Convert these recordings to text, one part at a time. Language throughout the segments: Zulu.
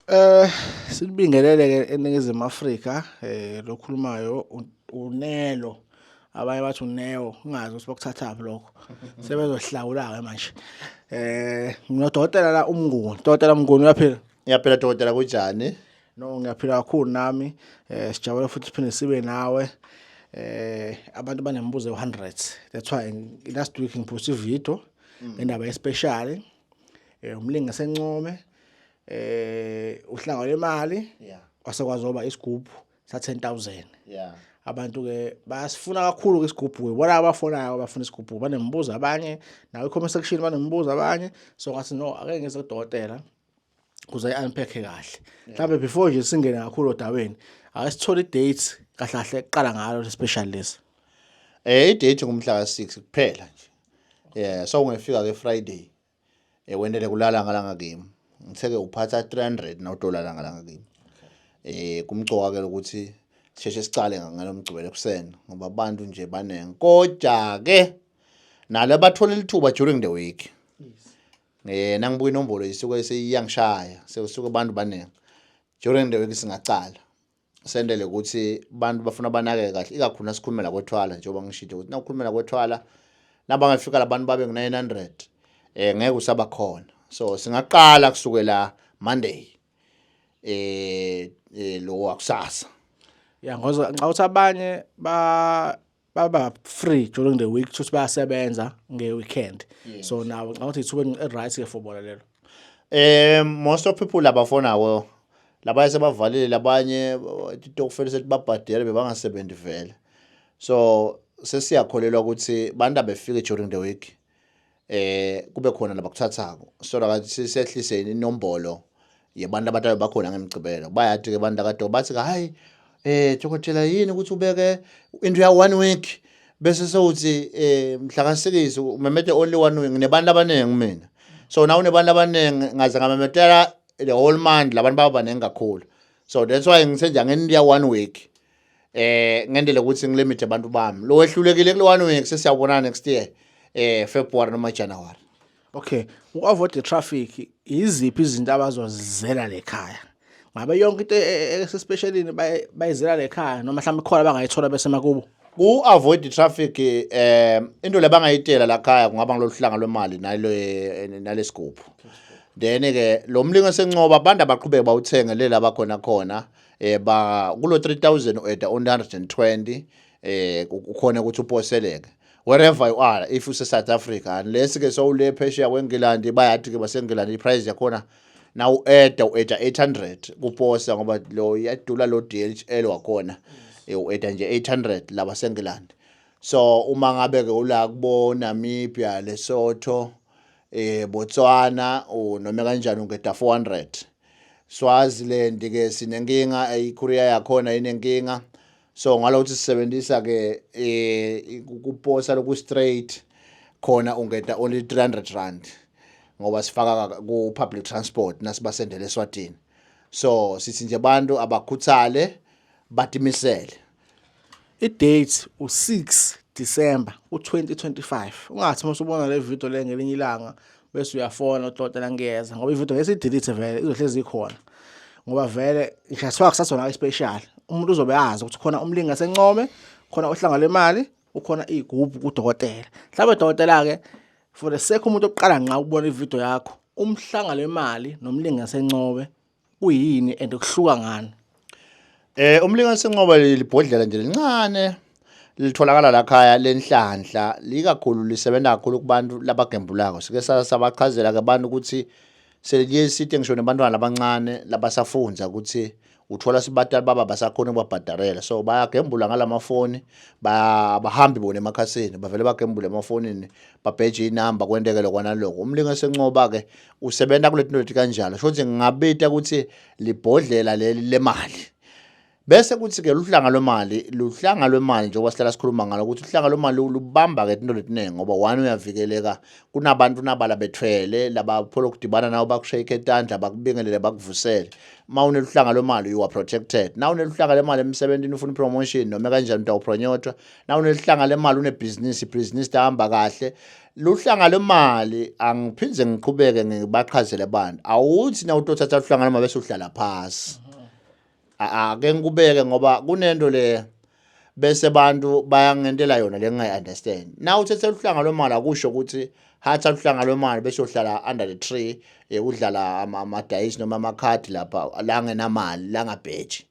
Eh silibingelele ke eningizimu Afrika eh lokhulumayo unelo abanye bathi uneo ungazi ukuthi bakuthathaphi lokho sebezohlawula ke manje eh nginodokotela la umnguni dokotela umnguni uyaphila ngiyaphila dokotela kunjani no ngiyaphila kakhulu nami eh sijabule futhi siphinde sibe nawe eh abantu banemibuzo ye100 that's why last week ngipost ivideo mm. ngendaba especially eh umlingi sencome eh uhlanga lemali yeah kwase kwazoba isigubhu sa 10000 yeah abantu ke basifuna kakhulu ke isigubhu ke bona abafonayo abafuna isigubhu banembuzo abanye nawe comment section banembuzo abanye so ngathi no ake ngeze kudokotela kuze unpack kahle mhlawumbe before nje singene kakhulu odaweni ake sithole date kahle kahle kuqala ngalo special list eh date ngumhla ka 6 kuphela nje yeah so ungefika ke friday eh wendele kulala ngalanga kimi ngitheke uphatha 300 na dollar ngalanga kimi eh kumcoka ke ukuthi sisheshe sicale ngalomgcibelo ekuseni ngoba abantu nje baningi kodwa ke nalo bathola lithuba during the week eh nangibuka inombolo isuke seyiyangishaya sekusuka abantu baningi during the week singacala sendele ukuthi abantu bafuna banake kahle ikakhulu nasikhulumela kwethwala njengoba ngishithe ukuthi nawukhulumela kwethwala nabangafika labantu babe ngu-900 eh ngeke usaba khona so singaqala kusukela monday eh, eh lo wakusasa ya ngoba nxa uthi abanye ba baba free during the week kusho bayasebenza ngeweekend yes. so nawo ngicabanga ukuthi ithuba elight ke for bona lelo eh most of people labafonawo labanye sebavalile labanye itokufela sethi babhadele bebangasebenzi vele so sesiyakholelwa ukuthi bantu abefike during the week eh kube khona labakuthathako solo akathi sisehlise inombolo yebantu abatayo bakhona ngemgcibelo bayathi ke abantu akade bathi hayi eh dokotela yini ukuthi ubeke into ya one week bese sewuthi eh mhlakasikisi umemede only one week nebantu abaningi mina so nawu nebantu abaningi ngaze ngamemedela the whole month labantu baba baningi kakhulu so that's why ngithe nje angendiya one week eh ngendele ukuthi ngilimit abantu bami lo wehlulekile kule one week sesiyabonana next year eh February noma January okay uavoid the traffic iziphi izinto abazozizela lekhaya ngabe yonke into esespecialini e, e, bayizela lekhaya noma mhlawumbe khona bangayithola bese makubo ku avoid the traffic eh into lebangayitela la khaya kungaba ngiloluhlanga lwemali nalo eh, nalesigubhu then ke lo mlingo sencoba abantu abaqhubeke bawuthenge lela bakhona khona eh ba kulo 3000 ueda 120 eh ukhona ukuthi uposeleke wherever you are if use South Africa unless ke sowule phesheya kweNgilandi bayathi ke baseNgilandi iprice yakhona na ueda ueda 800 kuposa ngoba lo yadula lo DHL wakhona eh, ueda nje 800 laba seNgilandi so uma ngabe ke ula kubo Namibia Lesotho eh Botswana noma kanjani ungeda 400 Swaziland ke sinenkinga iKorea yakhona inenkinga so ngalokuthi sisebenzisa ke eh kuposa loku straight khona ungeta only 300 rand ngoba sifaka ku public transport nasibasendele eSwatini so sithi nje abantu abakhuthale batimisele I-date u-6 December u-2025. Ungathi uma usubona le video le ngelinye ilanga bese uyafona udokotela ngiyeza ngoba ivideo ngesidelete vele izohlezi ikhona ngoba vele ngishaswa kusasona special umuntu uzobe azi ukuthi khona umlingi asencome khona ohlanga lemali ukhona igubhu kudokotela mhlawumbe dokotela ke for the sake umuntu oqala nqa ukubona ivideo yakho umhlanga lemali nomlingi asencome kuyini and kuhluka ngani eh umlinganiso enqoba libhodlela nje lincane litholakala la khaya lenhlanhla likakhulu lisebenza kakhulu kubantu labagembulako sike sabachazela ke abantu ukuthi seliye site ngisho nebantwana abancane labasafunza ukuthi uthola sibatali baba basakhona ukubabhadarela so bayagembula ngalamafoni bahambi bona emakhasini bavele bagembule emafonini babheje inamba kwenteke lokwana lokho umlingo esencoba ke usebenza kule tinothi kanjalo sho ukuthi ngingabita ukuthi libhodlela leli lemali bese kuthi-ke luhlanga lwemali luhlanga lwemali njengoba sihlala sikhuluma ngalo ukuthi uhlanga lwemali lubamba-ke into letiningi ngoba one uyavikeleka kunabantu nabala bethwele laba phole ukudibana nawo bakushayikhe etandla bakubingelele bakuvusele uma uneluhlanga lwemali you are protected na uneluhlanga lemali emsebenzini ufuna ipromotion noma kanjani umuntu awupronyotwa na uneluhlanga lemali unebhizinisi ibhizinisi tahamba kahle luhlanga lwemali angiphinde ngiqhubeke ngibachazele abantu awuthi na utothatha luhlanga lwemali bese uhlala phasi ake ngikubeke ngoba kunento le bese abantu bayangentela yona le ngingayi-understand na uthethe luhlanga lwemali akusho ukuthi hatha luhlanga lwemali bese uhlala under the tree eh, udlala amadayisi noma amakhadi lapha la ngenamali la ngabheji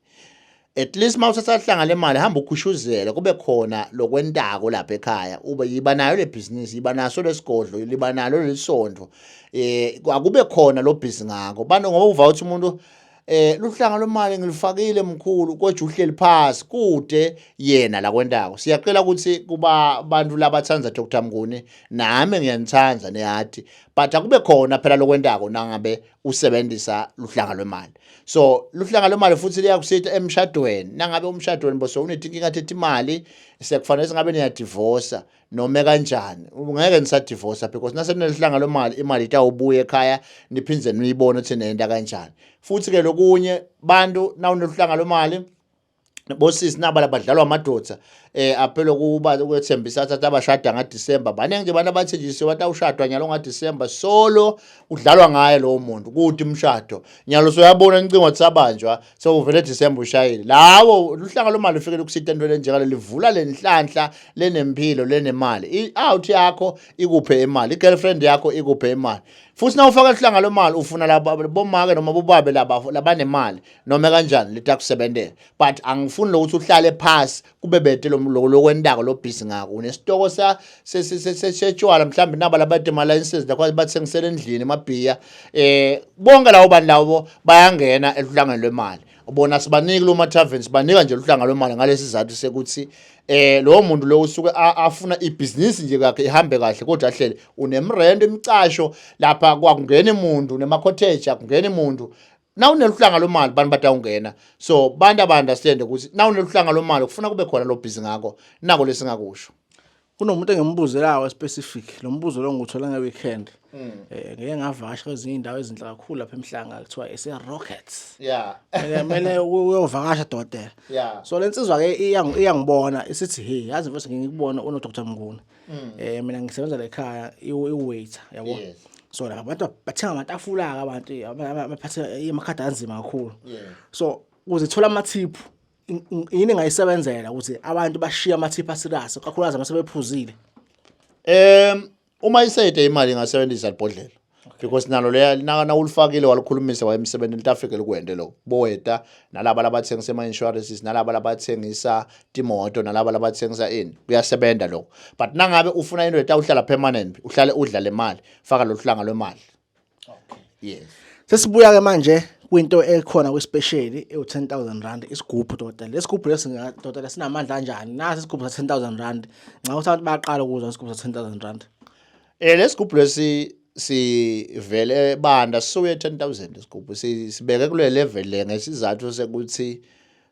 at least uma usesahlanga le mali hamba ukhushuzele kube khona lokwentako lapha ekhaya ube yiba nayo le bhizinisi yiba naso lesigodlo liba nalo lelisondvo eh akube khona lo busy ngako bano ngoba uva ukuthi umuntu eh luhlanga lomali ngilifakile mkhulu kodwa uhleli phansi kude yena la kwentako siyacela ukuthi kuba abantu labathanda Dr Mnguni nami ngiyanithanda nehati but akube khona phela lokwentako nangabe usebenzisa luhlanga lwemali so luhlanga lwemali futhi liyakusitha emshadweni nangabe umshadweni boso unetinkinga thethi imali sekufanele singabe niyadivorsa noma kanjani ngeke nisadivorsa because nasenelihlanga lwemali imali itawubuya ekhaya niphinde niyibone ukuthi nenda kanjani futhi ke lokunye bantu nawuneluhlanga lwemali bosisi naba labadlalwa amadoda eh aphele kuba ukwethembisa athatha abashada nga December baningi nje abantu abathenjisiwe bathi awushadwa nyalo nga December solo udlalwa ngaye lowo muntu kuthi umshado nyalo soyabona incingo tsabanjwa sewuvele December ushayile lawo luhlanga lomali ufikele ukusitha into lenjengalo livula lenhlanhla lenempilo lenemali i out yakho ikuphe imali i girlfriend yakho ikuphe imali futhi na ufaka luhlanga lomali ufuna laba bomake noma bobabe laba labanemali noma kanjani litakusebentela but angifuni lokuthi uhlale phasi kube bete lokwentako lobhizi ngako unesitoko setshwala mhlawumbe naba labade ma-licenses lakho bathengisela endlini emabhiya um eh, bonke lawo bantu lawo bayangena eluhlangeni lwemali bona sibaniki lo ma-taven sibanika nje luhlanga lwemali ngalesi sizathu sekuthi eh lowo muntu lowo usuke afuna ibhizinisi nje kakhe ihambe kahle kodwa ahlele unemrendo imicasho lapha kwakungena imuntu nema-cottage akungena imuntu nawuneluhlanga lomali bantu batawungena so bantu aba-understande ukuthi nawuneluhlanga lomali kufuna kube khona lobhizi ngako nako lesingakusho kunomuntu engimubuzelayo specific lo mbuzo lo ngiwuthola nge-weekend um mm. eh, ngike ngavasha kwezinye iy'ndawo ezinhle kakhulu lapha emhlanga kuthiwa ese-rockets ya kumele uyovakasha dokotela so le nsizwa-ke iyangibona isithi he yazi mfose ngikubona unodr mnguni mm. eh mina ngisebenza la ekhaya i-waiter yabo yes. so la abantu bathenga amatafula ke abantu abaphathe amakhadi anzima kakhulu yes. so ukuze thola amathiphu yini engayisebenzela ukuthi abantu bashiye amathiphu asirasi kakhulukazi uma sebephuzile um uma isede imali ingasebenzisa libhodlela because nalo leya na ulifakile walukhulumisa wayemsebenzi litafike likwende lokho boweta nalaba labathengisa ama insurances nalaba labathengisa timoto nalaba labathengisa ini kuyasebenza lokho but nangabe ufuna into etawuhlala permanent uhlale udla le mali faka loluhlanga lwemali okay yes sesibuya ke manje kwinto ekhona kwespecially ewu 10000 rand isigubhu doda lesigubhu lesi doda lesinamandla kanjani nasi isigubhu sa 10000 rand nxa usabantu bayaqala ukuzwa isigubhu sa 10000 rand Eh lesigubhu lesi sivele banda sisuke 10000 isigubhu sibeke kule level le ngesizathu sekuthi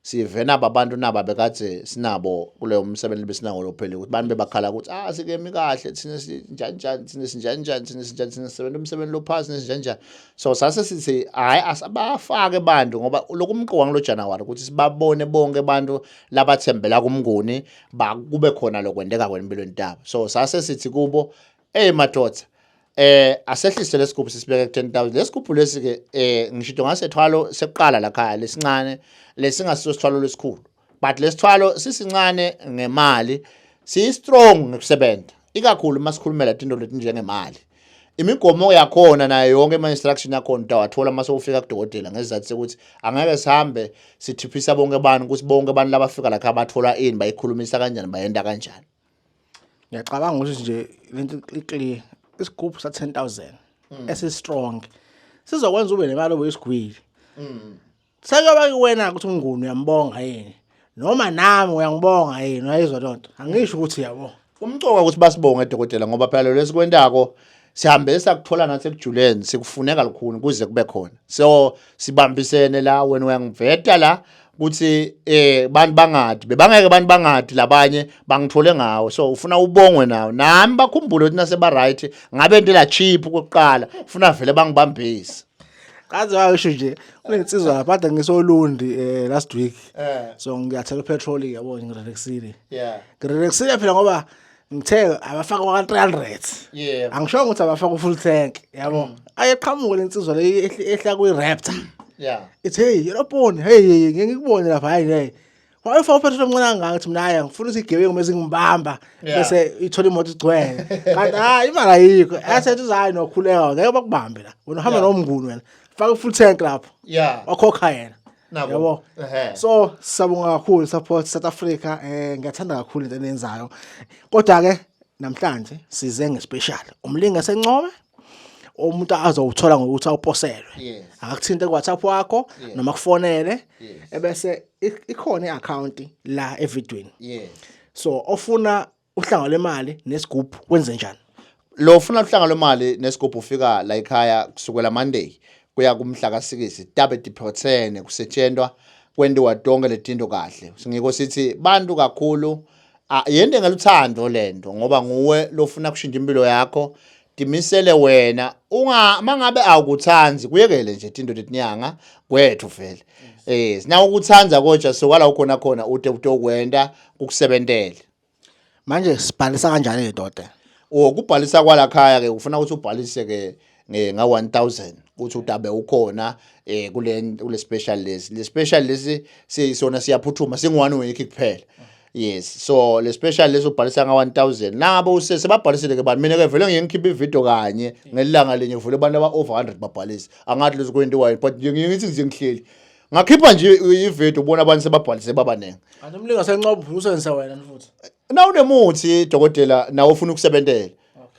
sivena abantu naba bekade sinabo kuleyo msebenzi besinawo lophele ukuthi abantu bebakhala ukuthi ah sikemi kahle thina sinjani njani thina sinjani njani thina sinjani thina sisebenza umsebenzi lophasi nesinjani njani so sase sithi hayi asabafake abantu ngoba lokumqoka ngelo January ukuthi sibabone bonke abantu labathembela kumnguni ba kube khona lokwendeka kwempilweni tabo so sase sithi kubo hey madoda eh asehlise lesigubhu sisibeke ku 10000 lesigubhu lesi ke eh ngisho into ngasethwalo sekuqala la khaya lesincane lesingasiso sithwalo lesikhulu but lesithwalo sisincane ngemali si strong ngokusebenza ikakhulu masikhulumela into letinjengemali imigomo yakhona nayo yonke ama-instruction yakhona utawathola uma sewufika kudokotela ngesizathu sokuthi angeke sihambe sithiphisa bonke abantu ukuthi bonke abantu labafika lakha bathola ini bayikhulumisa kanjani bayenda kanjani ngiyacabanga ukuthi nje lento iclear isigubhu sa 10000 mm. esistrong sizokwenza ube nemali obuyisigwili mm. Sekuyoba kuwena ukuthi umnguni uyambonga yini noma nami uyangibonga yini wayizwa lonto angisho ukuthi yabo kumcoka ukuthi basibonge dokotela ngoba phela lo lesikwentako sihambe sakuthola nathi ekujuleni sikufuneka lukhuni kuze kube khona so sibambisene la wena uyangiveta la ukuthi eh bantu bangadi bebangeke abantu bangadi labanye bangithole ngawo so ufuna ubongwe nawo nami bakhumbule ukuthi nase ba right ngabe into la cheap kokuqala ufuna vele bangibambise Kaze washo nje unensizwa lapha kade ngisolundi eh last week. Eh. So ngiyathela petrol yabo ngirelexile. Yeah. Ngirelexile phela ngoba ngithe abafaka kwa 300. Yeah. Angisho ukuthi abafaka u full tank yabo. Mm. Ayeqhamuka lensizwa le ehla kwi Raptor. Yeah. Ithe hey, yeloboni hey ngeke ngikubone lapha hayi hey. Why for person omncane kangaka ukuthi mina hayi ngifuna ukuthi igebengu mase ngibamba Yeah. bese ithola imoto igcwele. Kanti hayi imali ayikho. Asethi uzayi nokhuleka ngeke bakubambe la. Wena uhamba Yeah. nomnguni wena. Faka full tank lapho. ya Wakhokha yena. Nako. Yabo. Ehhe. So siyabonga kakhulu support South Africa eh ngiyathanda kakhulu into eniyenzayo. Kodwa ke namhlanje size ngespecial. Umlingi esencome umuntu azowuthola ngokuthi awuposelwe yes. akakuthinte kuWhatsApp wakho yes. noma kufonele yes. ebese ikhona iaccount la evidweni yes. so ofuna uhlanga lemali nesigubhu wenze njani lo ufuna uhlanga lwemali nesigubhu ufika la ekhaya kusukela Monday kuya kumhla kasikisi tabe diphrothene kusetshentwa kwendiwa tonke letinto kahle singiko sithi bantu kakhulu Ah, yento engaluthando lento ngoba nguwe lofuna kushintsha impilo yakho timisele wena unga mangabe awukuthandi kuyekele nje tinto tetinyanga kwethu vele eh sina ukuthanda kodwa sokwala ukhona khona ute utokwenda kukusebentele manje sibhalisa kanjani ngedoda ukubhalisa kwala khaya ke ufuna ukuthi ubhalise ke eh, nga 1000 ukuthi utabe ukhona eh kule kule special list le special list siyisona siyaphuthuma singwani wiki kuphela yes so le special list ubhalisa nga 1000 nabo usese babhalisile ke bani mina ke vele ngiyengikhipha ivideo kanye ngelanga lenye vule abantu aba over 100 babhalisa angathi lezo kwenti wine but ngithi nje ngihleli ngakhipha nje ivideo ubona abantu sebabhalise babaningi anomlinga senqobo usebenzisa wena futhi na unemuthi dokotela nawe ufuna ukusebentela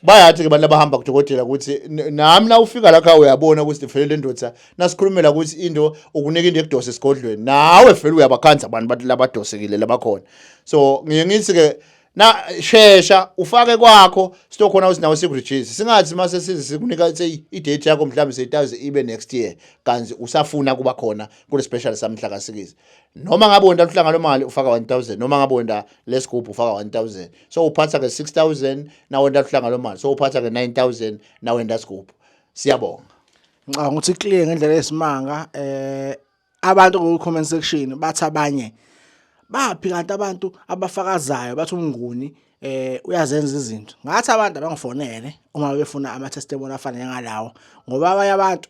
bayathi ke abantu abahamba kudokotela ukuthi nami na ufika la khaya uyabona ukuthi ndifelele indoda nasikhulumela ukuthi into ukunika into ekudose esigodlweni nawe vele uyabakhanza abantu bathi labadosekile labakhona so ngiye ngithi ke na shesha ufake kwakho sitokhona usinawo sikurejisi singathi mase size sikunika say idate yakho mhlawumbe seyitaze ibe next year kanti usafuna kuba khona kule special samhla kasikizi noma ngabe wenda luhlanga lomali ufaka 1000 noma ngabe wenda lesigubhu ufaka 1000 so uphatha ke 6000 nawe ndahlanga lo mali so uphatha ke 9000 nawe ndasigubhu siyabonga ngicabanga ukuthi clear ngendlela esimanga eh abantu ku comment section bathi abanye baphi kanti abantu abafakazayo bathi umnguni eh uyazenza izinto ngathi abantu abangifonele uma befuna ama testimony afana ngalawo ngoba abanye abantu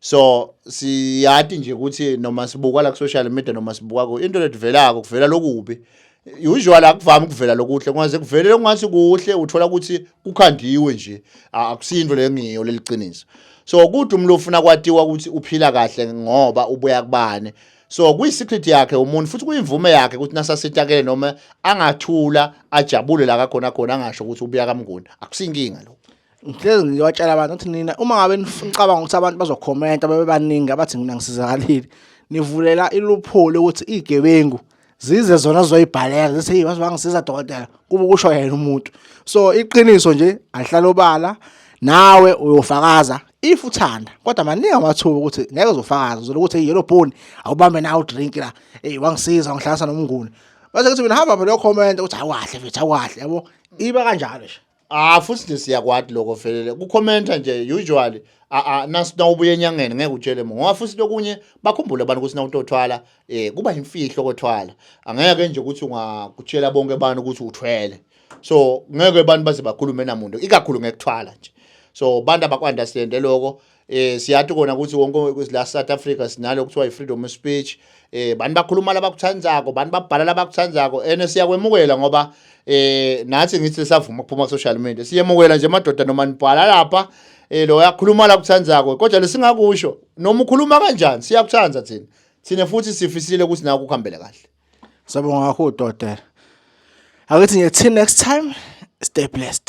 so siyati nje ukuthi noma sibuka la ku-social media noma sibuka ku into letivelako kuvela lokubi usual akuvami ukuvela lokuhle kungaze kuvele lokungathi kuhle uthola ukuthi kukhandiwe nje akusiyinto leyo ngiyo leliqiniso so kude umuntu ufuna kwatiwa ukuthi uphila kahle ngoba ubuya kubani so kuyisecret yakhe umuntu futhi kuyimvume yakhe ukuthi nasasitakele noma angathula ajabule la kakhona khona angasho ukuthi ubuya kamnguni akusinkinga lokho ngihlezi ngiyobatshela abantu ukuthi nina uma ngabe nicabanga ukuthi abantu bazokhomenta babe baningi abathi mina ngisizakalile nivulela iluphulo ukuthi igebengu zize zona zoyibhaleka zithi hey bazobangisiza dokotela kube kusho yena umuntu so iqiniso nje ahlala obala nawe uyofakaza if uthanda kodwa maningi amathuba ukuthi ngeke uzofakaza uzola ukuthi hey yellow bone awubambe nawe udrink la hey wangisiza wangihlanganisa nomnguni base kuthi mina hamba phela comment ukuthi awahle mfethu awahle yabo iba kanjalo nje Ah futhi nje siyakwati lokho velele. Ku commenter nje usually ah ah nasi nawubuye enyangeni ngeke utshele muntu. Ngoba futhi lokunye bakhumbule abantu ukuthi nawutothwala eh kuba imfihlo kothwala. Angeke nje ukuthi ungakutshela bonke abantu ukuthi uthwele. So ngeke abantu baze bakhulume namuntu ikakhulu ngekuthwala nje. So abantu abakwandastand lokho eh siyathi kona ukuthi wonke la South Africa sinalo kuthiwa i-freedom of speech eh bani bakhuluma labakuthandzako bani babhala labakuthandzako ene siyakwemukela ngoba eh nathi ngithi savuma ukuphuma ku social media siyemukela nje madoda noma nibhala lapha eh lo yakhuluma la kuthandzako kodwa lesingakusho noma ukhuluma kanjani siyakuthanda thina thina futhi sifisile ukuthi naku kuhambele kahle sabonga kakhulu dotela akithi ngithi next time stay blessed